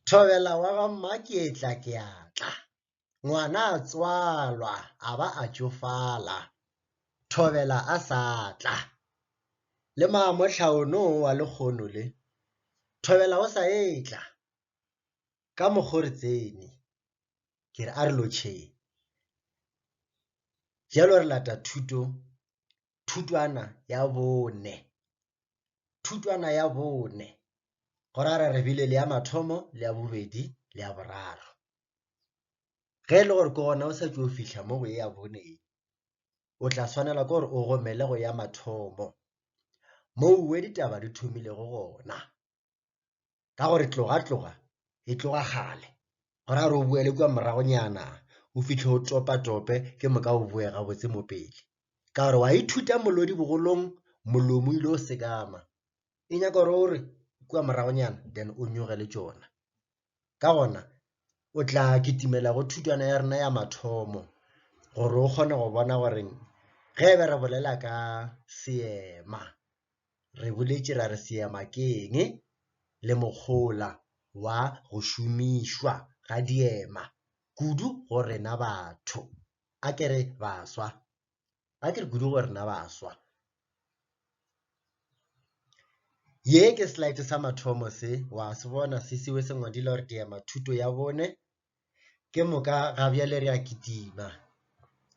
Thobela wa ga Maketla ke a tla. Ngwana a tswalwa a ba a tšofala. Thobela a sa tla. Le maamohla ono wa lekgono le. Thobela o sa etla. Ka mokgore tseni. Ke re a re lotšheng. Jalo re lata thuto thutwana ya bone. Thutwana ya bone. Go ra re bile le ya mathomo, le ya bobedi, le ya boraro. Ge e le gore ke gona o sa tšo fihla mo go e ya bone e, o tla swanela ke gore o gomele go ya mathomo. Mo uwe ditaba di thomilego gona. ka gore tloga tloga e tloga kgale go ra gore o boele kua moragonyana o fitlhe o topatope ke moka o boe gabotse mo pele ka gore wa ithuta molodi bogolong molomo ile o sekama e nyaka gore o re kua moragonyana then o nyoge le tšona Ka gona, o tla kitimela go thutwana ya rena ya mathomo gore o kgone go bona gore ge be re bolela ka seema re boletše ra re seema ke eng le mokgola wa go šomišwa ga diema kudu go rena batho a ke re baswa ga ke re kudu gore na ba swa ye ke slide sa mathomo se wa se bona se siwe se ngwadile gore diema thuto ya bone ke moka ga bjale re a kitima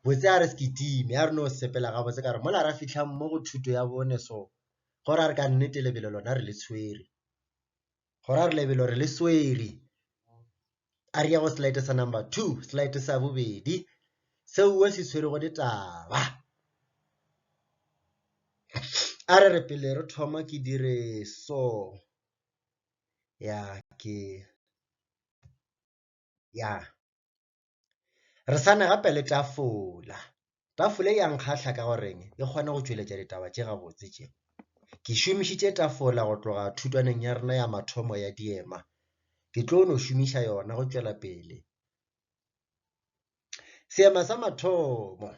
botse a re se kitime a re no sepela ga botse ka re mola ra fitlhang mo go thuto ya bone so gore a re ka nnete lebelo lona re le tshwere go ra re lebelo re le sweri a re ya go slide sa number two slide sa bobedi seo o se tshwere go ditaba a re re pele re thoma ke dire so ya ke ya Re sane gape le tafola. Tafola e yang kgahla ka goreng e kgona go tšweletša ditaba tše gabotse tše. Ke šomišitše tafola go tloga thutwaneng ya rena ya mathomo ya diema. Ke tlo no šomiša yona go tšwela pele. Seema sa mathomo.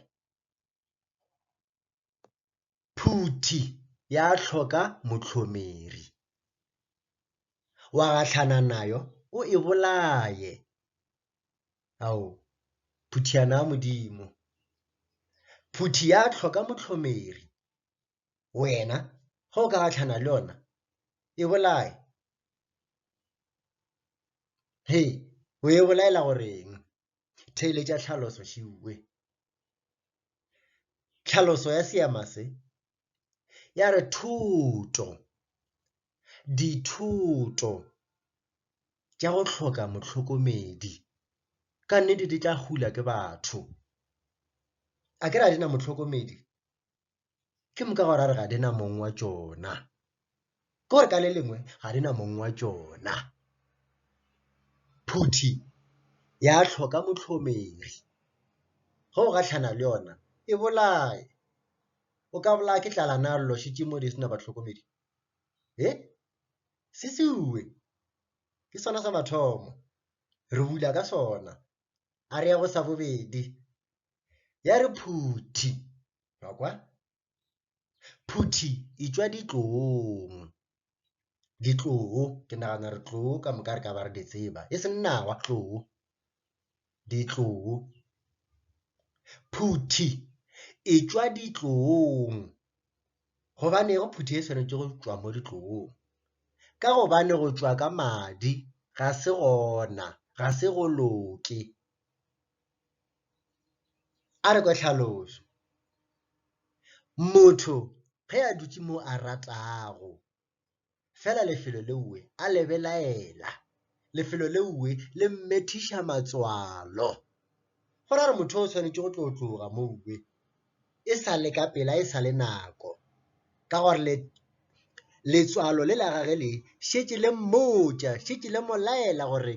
Phuti ya hloka mohlomeri. Wa gahlana nayo o e bolaye. Ao, phuthiyana ya Modimo! Phuti ya hloka mohlomeri. Wena, ge o ka gahlana le yona, e bolaye. He, o e bolaela goreng? Theeletša tlhaloso, Šiuwe. Tlhaloso ya seema se ya re thuto, dithuto tša go hloka motlhokomedi ka nnete di tla hula ke batho. A ke re a di na motlhokomedi? ke moka gore a re ga di na mong wa tšona ke gore ka le lengwe ga di na mong wa tšona phuthi ya tlhoka motlhomegi ge o gatlhana le yona e bolaye o ka bolaya ke tlala na llošitše mo di sena batlhokomedi e se seue ke sona sa mathomo re bula ka sona a re ya go sa bobedi ya re phuthi wa kwa phuthi e tšwa ditlong ditloo ke nagana re tloo ka moka re ka ba re di tseba e seng nawa tloo ditloo phuthi e tšwa ditlong gobane go phuthi e swanetše go tšwa mo ditlong ka gobane go tšwa ka madi ga se gona ga se go loke A re kwe tlhaloso, Motho ge a dutše mo a ratago, fela lefelo leowe a le belaela, lefelo leowe le mmethiša matswalo. Go ra gore motho o swanetše go tlo tloga mowe. e sa le ka pela e sa le nako, ka gore le letswalo le la gage le šetše le mmotša, šetše le mo laela gore,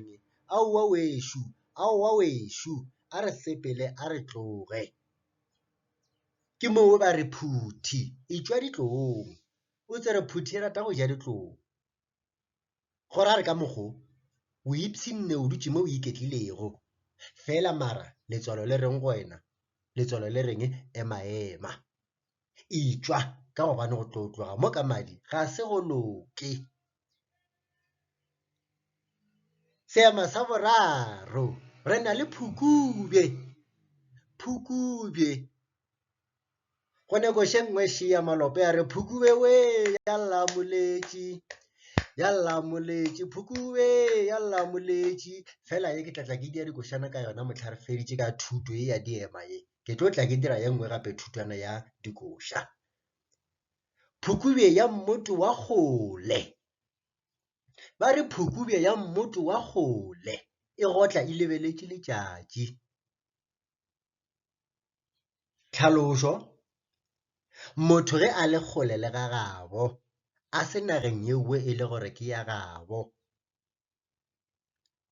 Aowa wešo, aowa wešo, a re sepele a re tloge. Ke moo ba re, Phuthi, etšwa ditlowong, o tsere phuthi e rata go ja ditlou. Go ra re ka mokgo, o ipshinne o dutše mo o iketlilego. Fela mara letswalo le reng go wena? Letswalo le reng ema ema. Itšwa ka gobane go tlo tloga mo ka madi ga se go loke. Seema sa boraro, re na le Phukubje. Phukubje go nekoše nngwe še ya malope a re phukube we ya lla moletši ya lla moletši phukube ya lla moletši fela ye ke tlatla ke dira dikošana ka yona motlha re feditše ka thuto ye ya diema ye ke tlo tla ke dira ye nngwe gape thutwana ya dikoša phukube ya mmoto wa kgole ba re phukube ya mmoto wa kgole e gotla e lebeletše letšatši Tlhalošo, Motho ge a le kgole le ga gabo, a se nageng yeowe e le gore ke ya gabo,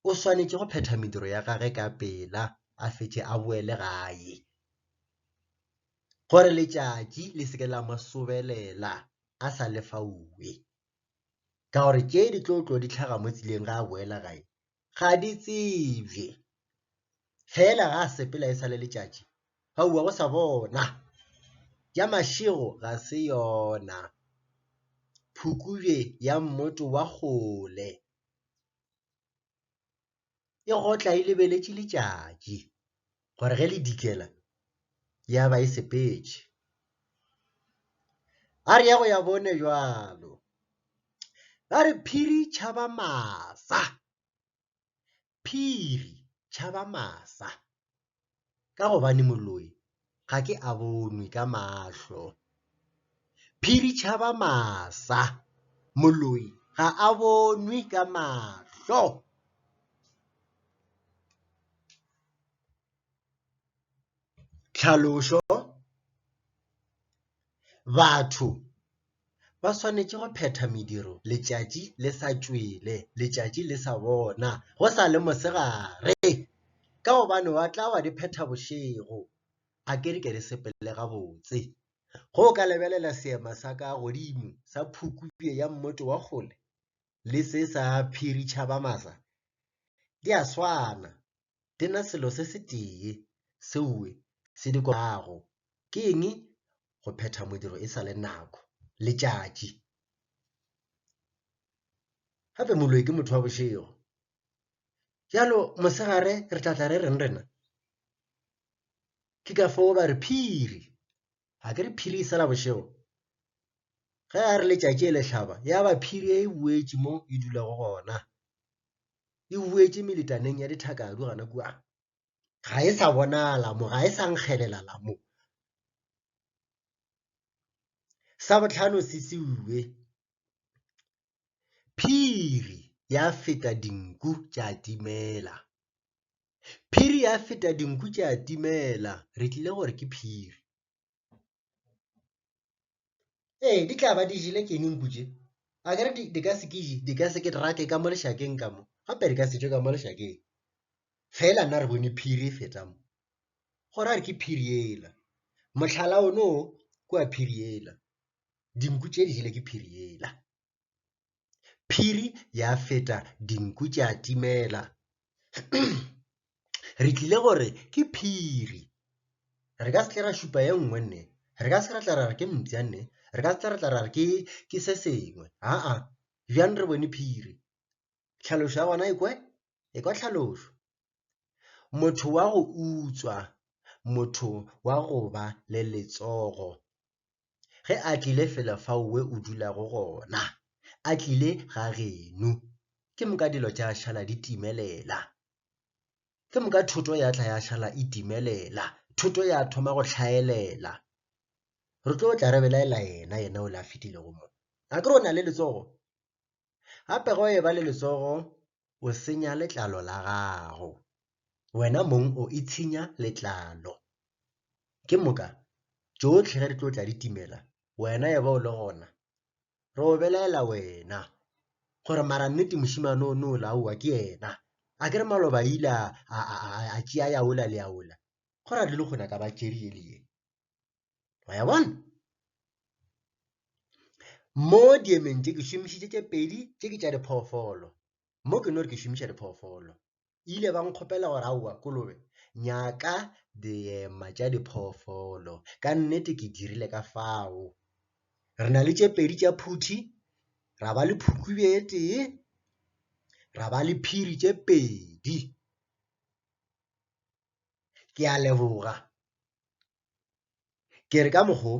o swanetše go phetha mediro ya gage ka pela a fetše a boele gae. Gore letšatši le se ke la mo sobelela a sa lefauwe, ka gore tše di tlo tlo di tlhaga mo tseleng ga a boela gae, ga di tsebje fela ga sepela e sale letšatši gaua go sa bona ya mašego ga se yona phukubje ya mmoto wa kgole e gotla e lebeletše letšatši gore ge le dikela ya ba e sepetše. A re ya go ya bone bjalo. Ba re phiri tšhaba masa. Phiri tšhaba masa. Ka gobane moloi ga ke a bonwe ka mahlo. Phiri tšhaba masa. Moloi ga a bonwe ka mahlo. Tlhalošo, Batho ba swanetše go phetha mediro letšatši le sa tšwele letšatši le sa bona go sa le mosegare ka gobane wa tla wa di phetha bošego. A ke re ke re sepele gabotse, ge o ka lebelela seema sa ka godimo sa phukubje ya mmoto wa kgole, le se sa phiri tšhaba masa, di a swana, di na selo se se tee seoe se di kopago, ke eng? Go phetha modiro e sa le nako, letšatši. Gape moloi ke motho wa bošego. Bjalo mosegare re tla tla re reng rena? Ke ka foo ba re phiri a ke re phiri e sela bošego ge a re letšatši e lehlaba ya ba phiri e boetše mo e dulago gona e boetše meletaneng ya dithakadu gana kua ga e sa bonala mo ga e sa nkgelela la mo sa botlhano se seue phiri ya feta dinku tša timela Phiri ya feta dinku tša timela re tlile gore ke phiri. Ee, di tla ba di jele keng nku tše? A ke re di ka se ke di ka se ke rake ka mo lešakeng ka mo gape di ka se tšwe ka mo lešakeng. Fela nna re bone phiri e feta mo go ra re ke phiri yela, mohlala o no kwa phiri yela, dinku tše di jele ke phiri yela. Phiri ya feta dinku tša timela. Re tlile go re ke phiri. Re ka se tle ra šupa ye nngwe nne, re ka se ra tla ra re ke mpša nne, re ka se tla ra tla ra re ke se sengwe, aa, bjang re bone phiri. Tlhalošo ya gona e kwe? E kwa tlhalošo. Motho wa go utswa, motho wa go ba le letsogo. ge a tlile fela fao we o dulago gona a tlile ga genu ke moka dilo tša šala di timelela ke moka thoto ya tla ya šala e timelela thoto ya thoma go tlhaelela re tlo tla re belaela yena yena o le a fetilego mo a ke re o na le letsogo gape ge o eba le letsogo o senya letlalo la gago wena mong o itshinya letlalo ke moka tšotlhe ge re tlo tla di timela wena e ba o le gona re o belaela wena gore mara nnete mošimane o ne o laowa ke yena a ke re maloba ile a tšea ya ola le ya ola go ra dilo gona ka ba tšerie le ye wa ya bona mo diemeng tše ke šomišitše tše pedi tše ke tša diphoofolo mo ke no re ke šomiša diphoofolo ile ba nkgopela gore aowa kolobe nyaka diema tša diphoofolo ka nnete ke dirile ka fao re na le tše pedi tša phuthi ra ba le phukube e tee ra ba le phiri tše pedi ke a leboga Ke re ka mokgo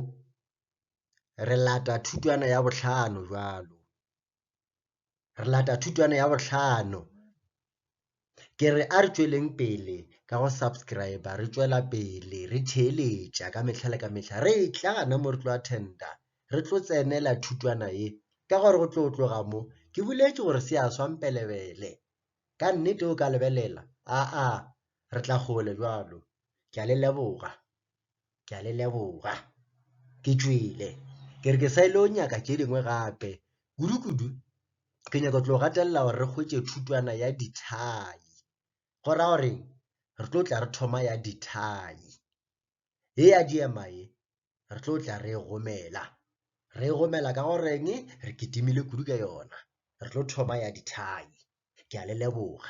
re lata thutwana ya bohlano jwalo, re lata thutwana ya bohlano. Ke re a re tšweleng pele ka go subscribe re tšwela pele re theeletša ka mehla le ka mehla re tla na mo re tlo attenda re tlo tsenela thutwana ye ka gore go tlo tloga mo ke boletše gore se a swampelebele. Ka nnete o ka lebelela, aa, re tla kgole bjalo. Ke a le leboga. Ke a le leboga. Ke tšwele. Ke re ke sa ile go nyaka tše dingwe gape. Kudukudu, ke nyaka tlo gatelela gore re hwetše thutwana ya dithai. Go ra gore re tlo tla re thoma ya dithai. Ye ya diema ye, re tlo tla re e gomela re e gomela ka goreng re kitimile kudu ka yona re tlo thoma ya dithai ke a le leboga